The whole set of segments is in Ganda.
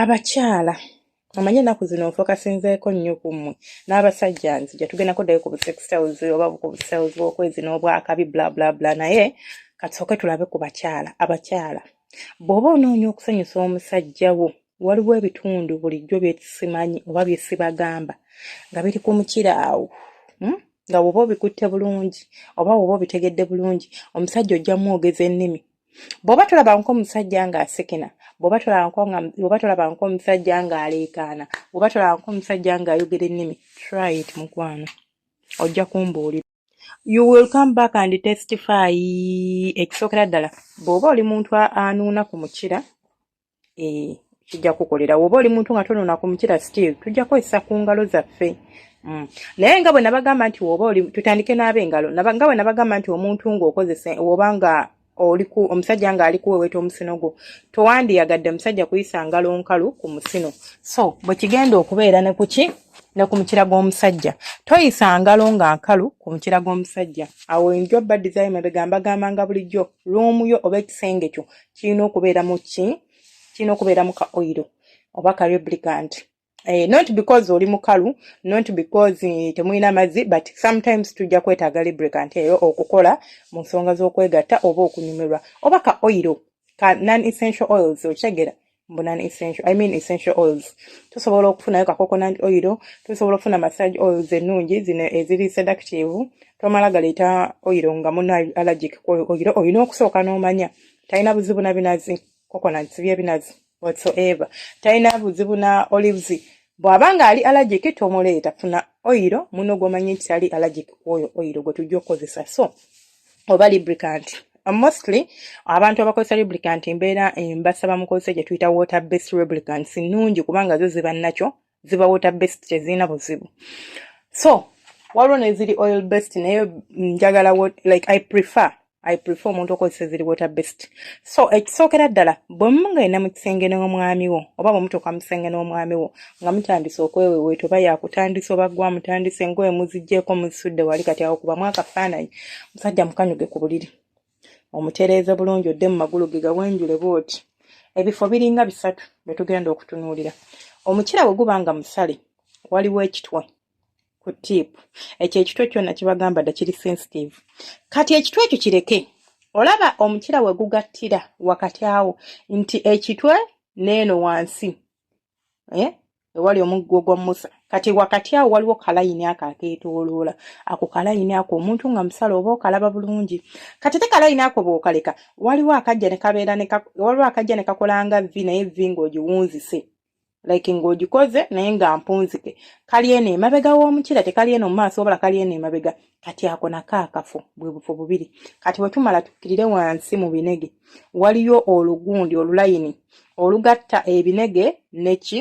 abakyala omanyi ennaku zino nfokasinzeeko nnyo ku mmwe n'abasajja nzija tugendako ddayo ku busextiles oba ku busales bw'okwezi n'obwakabi bla bla bla naye katusooke tulabe ku bakyala abakyala bw'oba onoonya okusanyusa omusajja wo waliwo ebitundu bulijjo byesimanyi oba byesibagamba nga biri ku mukira awo hmm? nga woba obikutte bulungi oba woba obitegedde bulungi omusajja ojja mwogeza ennimi bwoba tolaba nko omusajja nga asekena bwoba tolaba nko omusajja nga aleekaana bwoba tolaba nko omusajja nga ayogera ennimi try it mukwano ojja kumbuulira you will come back and testify ekisookera ddala bw'oba oli muntu anuuna ku mukira eh, kijja kukolera woba oli muntu nga tonona ku mukira still tujja kukozesa ku ngalo zaffe mm. naye nga bwe nabagamba nti woba oli tutandike n'ab'engalo nga bwe nabagamba nti omuntu ng'okozesa woba nga oliku omusajja nga ali kuweweta omusino gwo towandiyagadde musajja kuyisa ngalo nkalu ku musino so bwe kigenda okubeera ne kuki ne ku mukira gw'omusajja toyisa ngalo nga nkalu ku mukira gw'omusajja awo enjo badizaayo mabega mbagambanga bulijjo luumu yo oba ekisenge kyo kirina okubeera mu ki kirina okubeera mu ka oil oba ka lubricant eh, not because oli mukalu not because eh, temulina mazzi but sometimes tujja kwetaaga lubricant eyo okukola mu nsonga z'okwegatta oba okunyumirwa oba ka oil ka non essential oils okitegera mbu non essential i mean essential oils tusobola okufunayo ka coconut oil tusobola okufuna massage oils ennungi zino eziri seductive tomala galeeta oil nga muna allergic oil olina okusooka n'omanya talina buzibu na binazi coconuts byebinazi whatsoever talina buzibu na olives bw'aba ng'ali allergic tomuleeta funa oil muno gw'omanyi nti tali allergic oyo oil gwe tujja okukozesa so oba lubricant uh, mostly abantu abakozesa lubricant mbeera mbasaba mukozesa gye tuyita water based lubricants nnungi kubanga zo ziba nakyo ziba water based tezirina buzibu so waliwo neziri oil based naye njagala like i prefer i prefer omuntu okozesa eziri water based so ekisookera ddala bwe mugenda mu kisenge n'omwami wo oba bwe mutuuka mu kisenge n'omwami wo nga mutandise okweweweeta oba yakutandisa oba gwa mutandise engoye muzijjeeko muzisudde wali kati awo kubamu akafaananyi musajja mukanyuge ku buliri omutereeze bulungi odde mu magulu ge gawenjule bwoti ebifo biringa bisatu bye tugenda okutunuulira omukira bwe guba nga musale waliwo ekitwe ku tiipu ekyo ekitwe kyona kibagamba dda kiri sensitive kati ekitwe ekyo kireke olaba omukira we gugattira wakati awo nti ekitwe n'eno wansi eh? ewali omuggo gwa musa kati wakati awo waliwo kalayini ako akeetooloola ako kalayini ako omuntu nga musala oba okalaba bulungi kati te kalayini ako bwokaleka waliwo akajja nekabeera waliwo akajja ne kakolanga vi naye vi ng'ogiwunzise like ng'ogikoze naye nga mpunzike kali eno emabega w'omukira tekali eno mu maaso wabula kali eno emabega kati ako nako akafo bwe bufo bubiri kati bwe tumala tukkirire wansi mu binege waliyo olugundi olulayini olugatta ebinege neki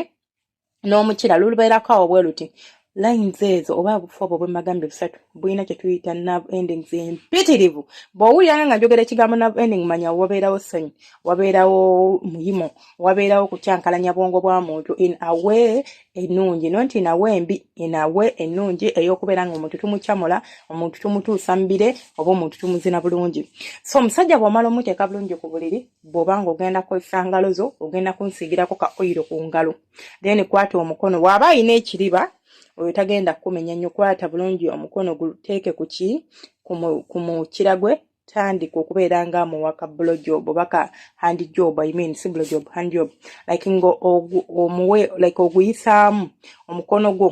n'omukira lulubeerako awo bwe luti lines ezo oba obufu obwo bwemagambye busatu bulina kyetuyita nav endings empitirivu bwowuliranga nga njogera ekigambo nav ending manya wabeerawo ssanyu wabeerawo muyimo wabeerawo kukyankalanya bwongo bwa muntu in away ennungi no nti nawe embi enawe ennungi ey'okubeera nga omuntu tumucamula omuntu tumutuusa mubire oba omuntu tumuzina bulungi so omusajja bw'omala omuteeka bulungi ku buliri bw'oba nga ogenda kukozesa ngalo zo ogenda kunsiigirako ka oyiro ku ngalo then kwata omukono waaba alina ekiriba oyo tagenda kukumenya nnyo kwata bulungi omukono guteeke kuki ku mukira gwe tandika okubeera nga amuwa ka bulo job oba ka hand job i mean si bulo job hand job like nga omuwe like oguyisaamu omukono gwo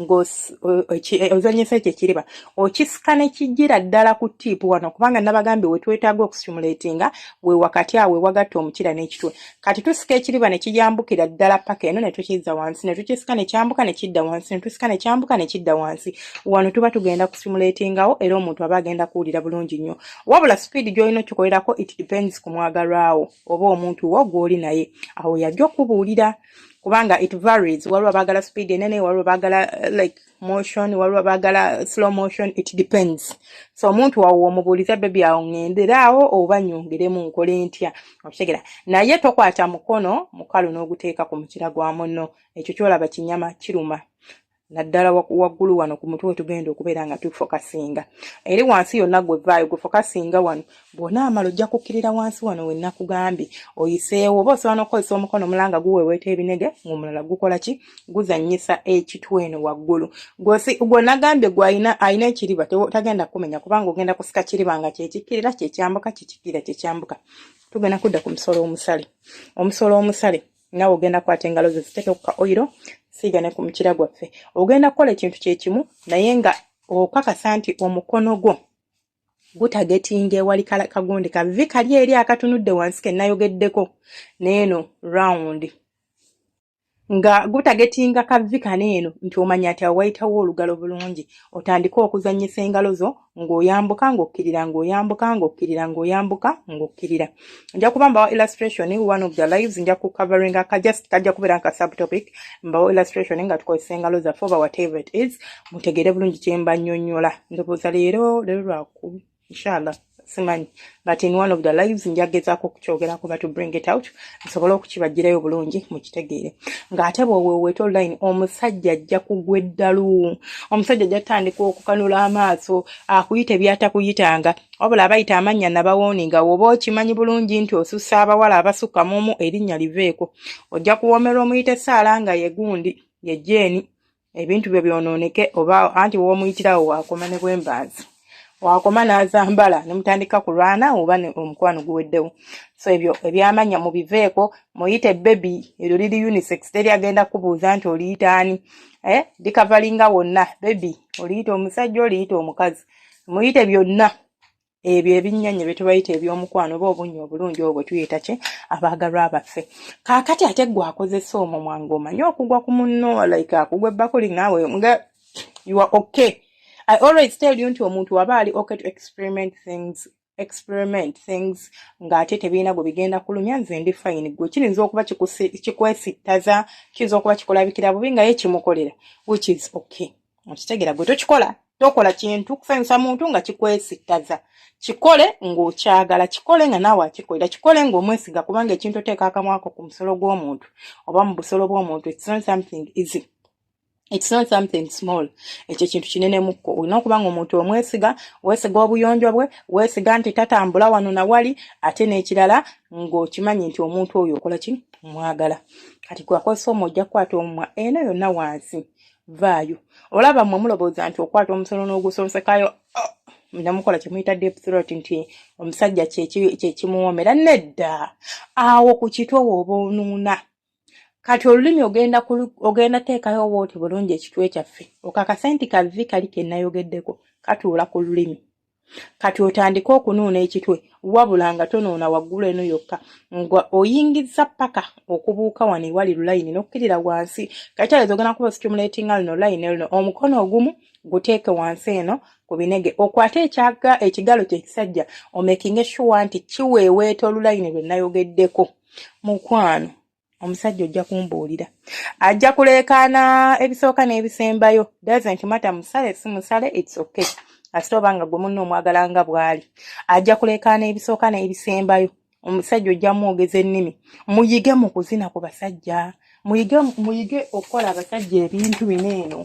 ng'ozanyisa ekyo ekiriba okisika ne kijjira ddala ku tiipu wano kubanga nabagambye wetwetaaga okustimulatinga we wakati awo wagatta omukira n'ekitwe kati tusika ekiriba ne kiyambukira ddala paka eno ne tukizza wansi ne tukisika ne kyambuka ne kidda wansi ne tusika ne kyambuka ne kidda wansi wano tuba tugenda kusimuleetingawo era omuntu aba agenda kuwulira bulungi nnyo wabula sipiidi gy'olina okikolerako it depends ku mwagalwawo oba omuntu wo gw'oli naye awo yajja okubuulira kubanga it varies waliwo abaagala sipiidi enene waliwo baagala like motion waliwo abagala slow motion it depends so omuntu wawo omubuuliza bebi awo ŋenderaawo oba nyongeremu nkole ntya okitegera naye tokwata mukono mukalu n'oguteeka ku mukira gwa munno ekyo kyolaba kinyama kiruma naddala waggulu wano ku mutwe wetugenda okubeera nga tufokasinga eri wansi yonna gwevaayo gwefokasinga wano bw'onaamala ojja kukkirira wansi wano we nakugambye oyiseewo oba osobola n'okukozesa omukono omulala nga guweeweeta ebinege ng'omulala gukola ki guzannyisa ekitwe eno waggulu gwe nagambye gwe alina ekiriba tagenda kukumenya kubanga ogenda kusika kiriba nga kyekikkirira kyekyambuka kyekikkirira kyekyambuka tugenda kudda ku musolo omusale omusolo omusale nawe ogenda kwata engalo ze ziteeke ku ka oyiro siiga ne ku mukira gwaffe ogenda kukola ekintu kye kimu naye nga okakasa nti omukono gwo gutagetinga ewali kagundi kavi kali eri akatunudde wansi kenayogeddeko neeno round nga gutagetinga kavi kano eno nti omanya ati awayitawo olugalo bulungi otandike okuzanyisa engalo zo ng'oyambuka ng'okkirira ng'oyambuka ng'okkirira ng'oyambuka ng'okkirira nja kuba mbawa illustration one of the lives nja ku covering aka just kajja kubeera nka subtopic mbawa illustration nga tukozesa engalo zaffe oba whatever it is mutegeere bulungi kyemba nnyonnyola ndowooza leero leero lwaku inshallah simanyi but in one of the lives nja gezaako okukyogerako but to bring it out nsobole okukibajjirayo bulungi mukitegeere ng'ate bweweweta online omusajja ajja kugwa eddalu omusajja ajja tutandika okukanula amaaso akuyita ebyatakuyitanga wabula abayita amannya nabawooninga woba okimanyi bulungi nti osusa abawala abasukka muomu erinnya liveeko ojja kuwoomerwa omuyita essaala nga yegundi ye jeeni ebintu byo byonooneke oba anti woomuyitirawo waakoma ne bwembanzi waakoma n'azambala ne mutandika kulwana oba omukwano guweddewo so ebyo ebyamannya mubiveeko muyite bebi eryo liri unisex teri agenda kubuuza nti oliyitaani eh, dikavalinga wonna bebi oliyita omusajja oliyita omukazi muyite byonna ebyo ebinnyanya bye tubayita eby'omukwano oba obunnya obulungi obwo bwe tuyita ki abaagalwa baffe kaakati ate gwe akozesa omumwa ng'omanyi okugwa ku munno like akugwa ebbakuli naawe nga you are okay i always tell you nti omuntu waba ali okay to experiment things experiment things ng'ate tebirina gwe bigenda kulumya nze ndi fayini gwe kiyinza okuba kikwesittaza kiyinza okuba kikulabikira bubi nga ye kimukolera which is okay okitegera gwe tokikola tokola kintu kusanyusa muntu nga kikwesittaza kikole ng'okyagala kikole nga naawe akikolera kikole ng'omwesiga kubanga ekintu oteeka akamwako ku musolo gw'omuntu oba mu busolo bw'omuntu it's not something easy It's not something small. Ekyo kintu kinene mukko. Olina okuba nga omuntu omwesiga, wesiga obuyonjo bwe, wesiga nti tatambula wano na wali ate n'ekirala ng'okimanyi nti omuntu oyo okola ki mwagala. Kati kwakozesa omu ojja kukwata omumwa eno yonna wansi vaayo. Olaba mwe mulowooza nti okwata omusolo n'ogusonsekayo oh, namukola kyemuyita deep throat nti omusajja kyekimuwoomera nedda awo ku kitwe wooba onuuna. kati olulimi ogenda ogenda teekayo oba oti bulungi ekitwe kyaffe okakase nti kavi kali kenayogeddeko katuula ku lulimi kati otandike okunuuna ekitwe wabula nga tonuuna waggulu eno yokka nga oyingiza paka okubuuka wano ewali lulayini nokkirira wansi kakyalezo ogenda kuba stimulatinga lino layini lino omukono ogumu guteeke wansi eno ku binege okwate ekyaga ekigalo kyekisajja omekinge shuwa nti kiweeweeta olulayini lwe nayogeddeko mukwano omusajja ojja kumbuulira ajja kuleekaana ebisooka n'ebisembayo doesn't matter musale si musale it's okay kasita oba nga gwe munna omwagala nga bw'ali ajja kuleekaana ebisooka n'ebisembayo omusajja ojja mwogeza ennimi muyige mu kuzina ku basajja muyige muyige okukola abasajja ebintu bino eno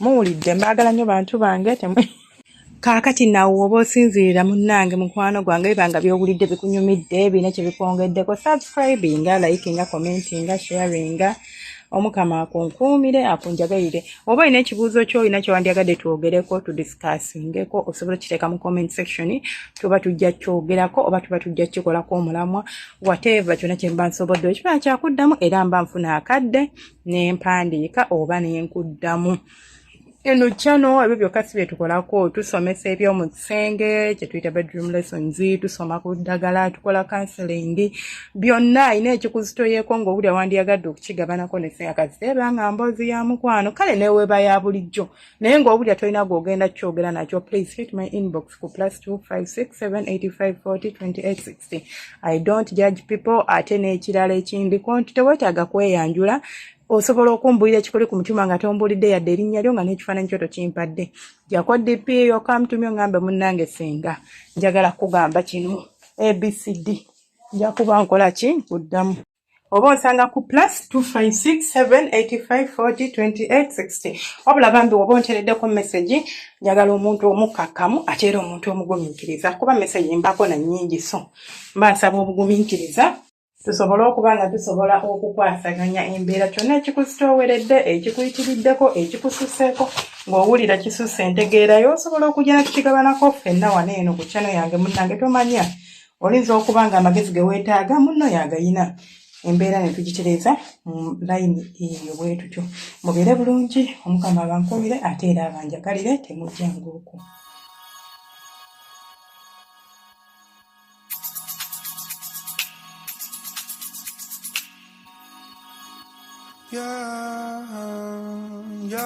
muwulidde mbaagala nnyo bantu bange temwe kaakati nawe oba osinziira munnange mukwano gwange biba nga byowulidde bikunyumidde birina kye bikwongeddeko subscribinga likinga commentinga sharinga omukama akunkuumire akunjagalire oba olina ekibuuzo kyo olina kyewandyagadde twogereko tudiscussingeko osobola okiteeka mu comment section tuba tujja kyogerako oba tuba tujja kikolako omulamwa whatever kyona kyemba nsobodde okiba kyakuddamu era mba nfuna akadde nempandiika oba nenkuddamu eno kyano ebyo byokka si byetukolako tusomesa ebyomu kisenge kyetuyita bedroom lessons tusoma ku ddagala tukola counseling byonna ayina ekikuzitoyeko ngaobuli awandiyagadde okukigabanako neseyakaziteeba nga mboozi ya mukwano kale neweba ya bulijjo naye ng'obulya tolina gwogenda kyogera nakyo please hit my inbox ku plus 256785402860 i don't judge people ate n'ekirala ekindiko nti tewetaaga kweyanjula osobola okumbulira ekikuli ku mutima nga tombulidde yadde erinnya lyo nga n'ekifaananyi kyo tokimpadde jako dp yokamtumye oŋambe munnange singa njagala kugamba kino abcd njakuba nkola ki nkuddamu oba onsanga ku plus 256785402860 wabula bambi woba ontereddeko message njagala omuntu omukkakkamu ate era omuntu omugumiikiriza kuba message mbako na nyingi so mba nsaba obugumiikiriza tusobole okuba nga tusobola okukwasaganya embeera kyonna ekikuzitooweredde ekikuyitiriddeko ekikususeeko ng'owulira kisusse entegeerayo osobola okujja na tukigabanako ffenna wano eno ku kyano yange munnange tomanya oyinza okuba nga amagezi ge weetaaga munno yagayina embeera ne tugitereeza mu layini eyo bwe tutyo mubeere bulungi omukama abankuumire ate era abanjagalire temujja ng'oku Yeah, yeah.